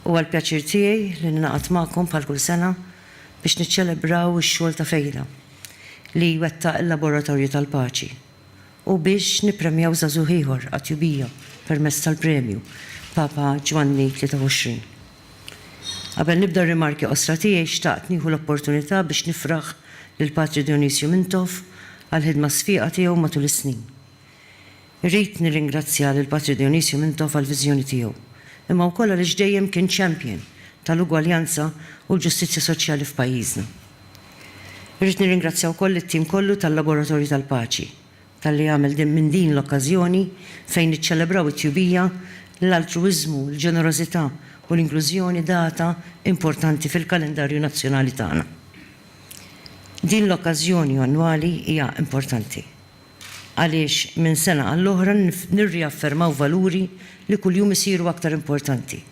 Huwa l-pjaċir tiegħi li ningħaqad magħkom bħal kull sena biex niċċelebraw ix-xogħol ta' Fejda li jwettaq il-Laboratorju tal-Paċi u biex nippremjaw żagħżugħ ieħor għat-tjubija permezz tal-premju Papa Ġwanni 23. Qabel nibda r-rimarki qosra tiegħi xtaqt nieħu l-opportunità biex nifraħ lil Patri Dionysio Mintoff għall-ħidma sfieqa tiegħu matul is-snin. Irrid nirringrazzja lil Patri Dionysio Mintoff għall-viżjoni tiegħu, imma wkoll għaliex dejjem kien champion tal-ugwaljanza u l-ġustizzja soċjali f'pajjiżna. Irrid nirringrazzja wkoll lit-tim kollu tal-Laboratorju tal-Paċi talli għamel din minn din l-okkażjoni fejn niċċelebraw it-tjubija, li l-altruwiżmu, il-ġenerożità u l-inklużjoni data importanti fil-kalendarju nazzjonali tagħna. Din l-okkażjoni annwali hija importanti għaliex minn sena għall-oħra nirriaffermaw valuri li kuljum isiru aktar importanti.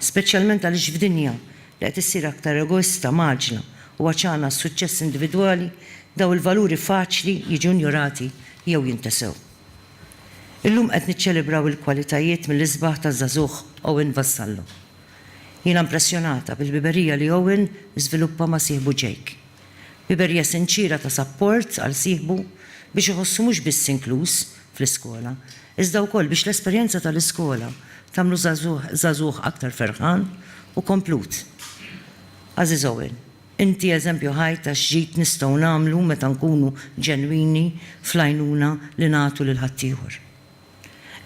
speċjalment għaliex f'dinja li qed issir aktar egoista, mgħaġġla u għatxana għas-suċċess individwali, dawn il-valuri faċli jiġu injorati jew jintesew. Illum qed niċċelebraw il-kwalitajiet mill-isbaħ taż-żagħżugħ Owen Vassallo. Jiena impressjonata bil-ħbiberija li Owen żviluppa ma' sieħbu Jake. Biberja sinċiera ta' sapport għal sieħbu biex iħossu mhux biss inkluż fl-iskola, iżda wkoll biex l-esperjenza tal-iskola tagħmlu żagħżugħ aktar ferħan u komplut. Għażiż Owen, inti eżempju ħaj ta' x'ġid nistgħu nagħmlu meta nkunu ġenwini fl-għajnuna li nagħtu lil ħaddieħor.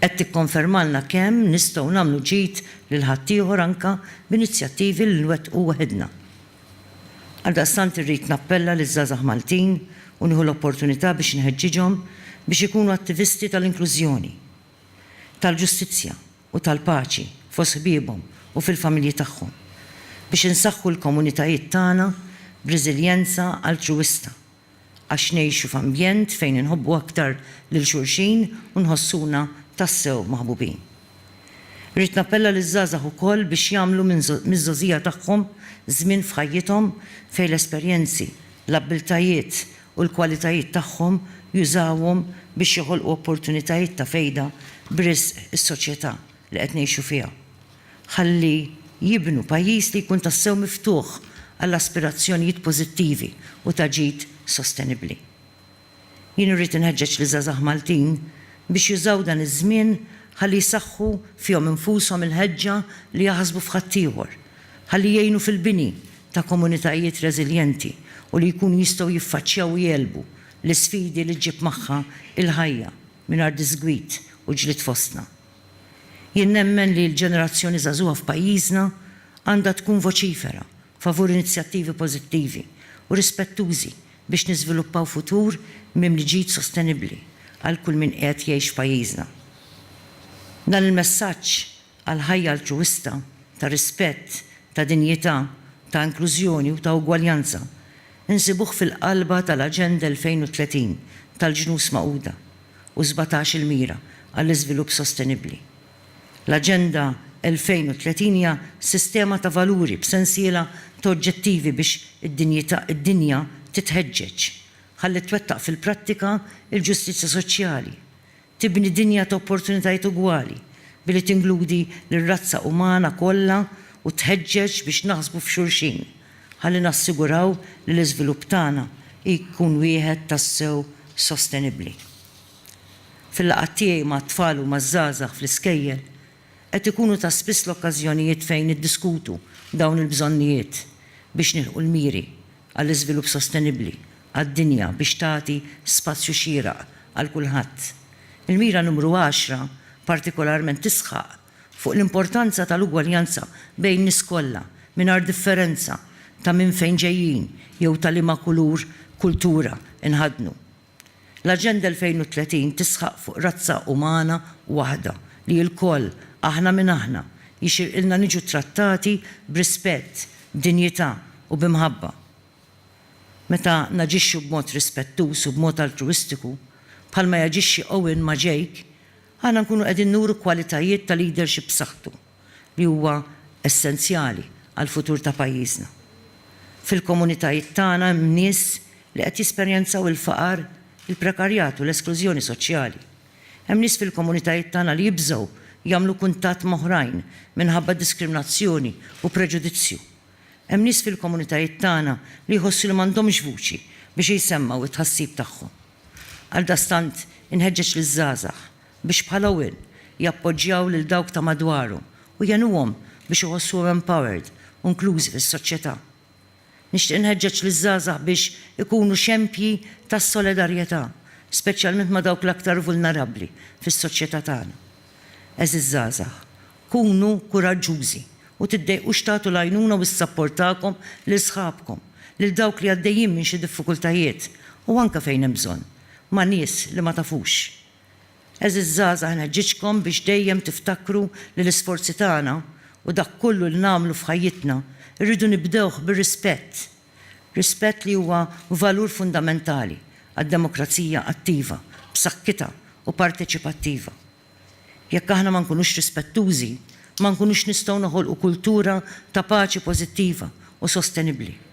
Qed tikkonfermalna kemm nistgħu nagħmlu ġid lil ħaddieħor anke b'inizjattivi li nwettqu waħidna. Għaldaqstant irrid nappella liż-żgħażagħ Maltin u nieħu l-opportunità biex inħeġġiġhom biex ikunu attivisti tal-inklużjoni, tal-ġustizzja u tal-paċi fost ħbiebhom u fil-familji tagħhom, biex insaħħu l-komunitajiet tagħna b'reżiljenza altruwista għax ngħixu f'ambjent fejn inħobbu aktar lil xulxin u nħossuna tassew maħbubin. Irrid nappella liż-żgħażagħ ukoll biex jagħmlu miż-żgħożija tagħhom żmien f'ħajjithom fejn l-esperjenzi, l-abbiltajiet u l-kwalitajiet tagħhom jużawhom biex joħolqu opportunitajiet ta' fejda b'risq is-soċjetà li qed ngħixu fiha. ħalli jibnu pajjiż li jkun tassew miftuħ għal aspirazzjonijiet pożittivi u ta' ġid sostenibbli. Jien irrid inħeġġeġ liż-żgħażagħ Maltin biex jużaw dan iż-żmien ħalli jsaħħu fihom infushom il-ħeġġa li jaħsbu f'ħaddieħor, ħalli jgħinu fil-bini ta' komunitajiet reżiljenti u li jkunu jistgħu jiffaċċjaw u jegħlbu l-isfidi li ġġib magħha l-ħajja mingħajr disgwid u ġlied fostna. Jien nemmen li l-ġenerazzjoni żagħżugħa f'pajjiżna għandha tkun voċifera favur inizjattivi pożittivi u rispettużi biex niżviluppaw futur mimli ġid sostenibbli għal kull min qiegħed jgħix f'pajjiżna. Dan il-messaġġ għal ħajja altruwista, ta' rispett, ta' dinjità, ta' inklużjoni u ta' ugwaljanza nsibuh fil-qalba tal-Aġenda 2030 tal-Ġnus Magħquda. u sbatax il-mira għall-iżvilupp sostenibbli. L-Aġenda 2030 hija sistema ta' valuri b'sensiela ta' oġġettivi biex id-dinjità id-dinja titħeġġeġ ħalli twettaq fil-prattika l-ġustizzja soċjali, tibni dinja ta' opportunitajiet ugwali billi tingludi lir-razza umana kollha u tħeġġeġ biex naħsbu f'xulxin, ħalli nassiguraw li l-iżvilupp tagħna jkun wieħed tassew sostenibbli. Fil-laqgħat tiegħi mat-tfal u maż-żgħażagħ fl-iskejjel, qed ikunu ta' spiss l-okkażjonijiet fejn niddiskutu dawn il-bżonnijiet biex nilħqu l-miri għall-iżvilupp sostenibbli għad-dinja biex tagħti spazju xieraq għal kulħadd. Il-mira numru għaxra partikolarment tisħaq fuq l-importanza tal-ugwaljanza bejn nies kollha mingħajr differenza ta' minn fejn ġejjin jew ta' liema kulur, kultura, inħaddnu. L-Aġenda 2030 tisħaq fuq razza umana waħda li ilkoll, aħna min aħna, jixirqilna niġu ttrattati b'rispett, b'dinjità u bi mħabba. Meta naġixxu b'mod rispettuż u b'mod altruwistiku, bħalma jaġixxi Owen ma' Jake, Aħna nkunu qegħdin nuru kwalitajiet ta' leadership b'saħħtu li huwa essenzjali għall-futur ta' pajjiżna. Fil-komunitajiet tagħna hemm nies li qed jesperjenzaw il-faqar, il-prekarjat u l-esklużjoni soċjali. Hemm nies fil-komunitajiet tagħna li jibżgħu jagħmlu kuntatt m'oħrajn minħabba diskriminazzjoni u preġudizzju. Hemm nies fil-komunitajiet tagħna li jħossu li m'għandhomx vuċi biex jsemmgħu t-tħassib tagħhom. Għaldaqstant, inħeġġeġ liż-żgħażagħ biex bħala Will jappoġġjaw lil dawk ta' madwarhom u jgħinuhom biex iħossuhom empowered u inklużi fis-soċjetà. Nixtieq inħeġġeġ liż-żgħażagħ biex ikunu xempji ta' solidarjetà, speċjalment ma' dawk l-aktar vulnerabbli fis-soċjetà tagħna. Għeżież żgħażagħ, Kunu kuraġġużi u tiddejqux tagħtu l-għajnuna u s-sapport tagħkom lil sħabkom, lil dawk li għaddejjin minn xi diffikultajiet u anke fejn hemm bżonn, ma' nies li ma tafux. Għeżież żgħażagħ inħeġġiġkom biex dejjem tiftakru li l-isforzi tagħna u dak kollu li nagħmlu f'ħajjitna rridu nibdewh bir-rispett, rispett li huwa valur fundamentali għad-demokrazija attiva, b'sakkitha u parteċipattiva. Jekk aħna ma nkunux rispettużi, ma nkunux nistgħu noħolqu kultura ta' paċi pożittiva u sostenibbli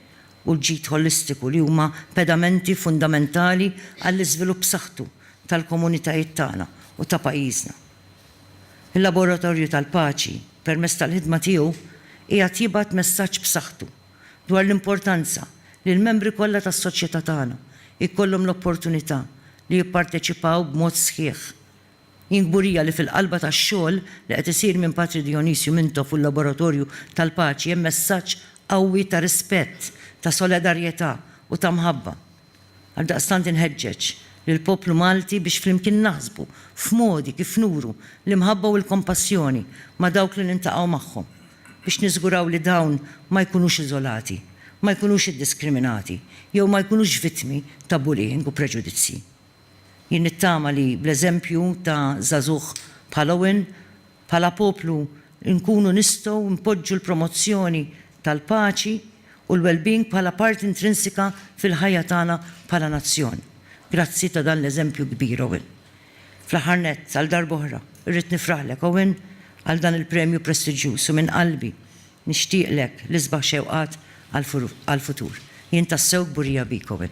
u l-ġid ħolistiku li huma pedamenti fundamentali għall-iżvilupp b'saħħtu tal-komunitajiet tagħna u ta' pajjiżna. Il-Laboratorju tal-Paċi, permezz tal-ħidma tiegħu, qiegħed jibgħat messaġġ b'saħħtu dwar l-importanza li l-membri kollha tas-soċjetà tagħna jkollhom l-opportunità li jipparteċipaw b'mod sħiħ Jien kburija li fil-qalba tax-xogħol li qed isir minn Patri Dionisio Mintoff u l-Laboratorju tal-Paċi hemm messaġġ qawwi ta' rispett, ta' solidarjetà u ta' mħabba. Għaldaqstant inħeġġeġ lill-poplu Malti biex flimkien naħsbu f'modi kif nuru l-imħabba u l-kompassjoni ma' dawk li niltaqgħu magħhom, biex niżguraw li dawn ma jkunux iżolati, ma jkunux iddiskriminati jew ma jkunux vittmi ta' bullying u preġudizzji. Jien nittama li bl-eżempju ta' żagħżugħ bħal Owen, bħala poplu nkunu nistgħu npoġġu l-promozzjoni tal-paċi u l-wellbeing bħala parti intrinsika fil-ħajja tagħna bħala nazzjon. Grazzi ta' dan l-eżempju kbir, Owen. Fl-aħħar nett, għal darb'oħra, irrid nifraħlek, Owen, għal dan il-premju prestiġjuż u minn qalbi nixtieqlek l-isbaħ xewqat għall-futur. Jien tassew kburija bik, Owen.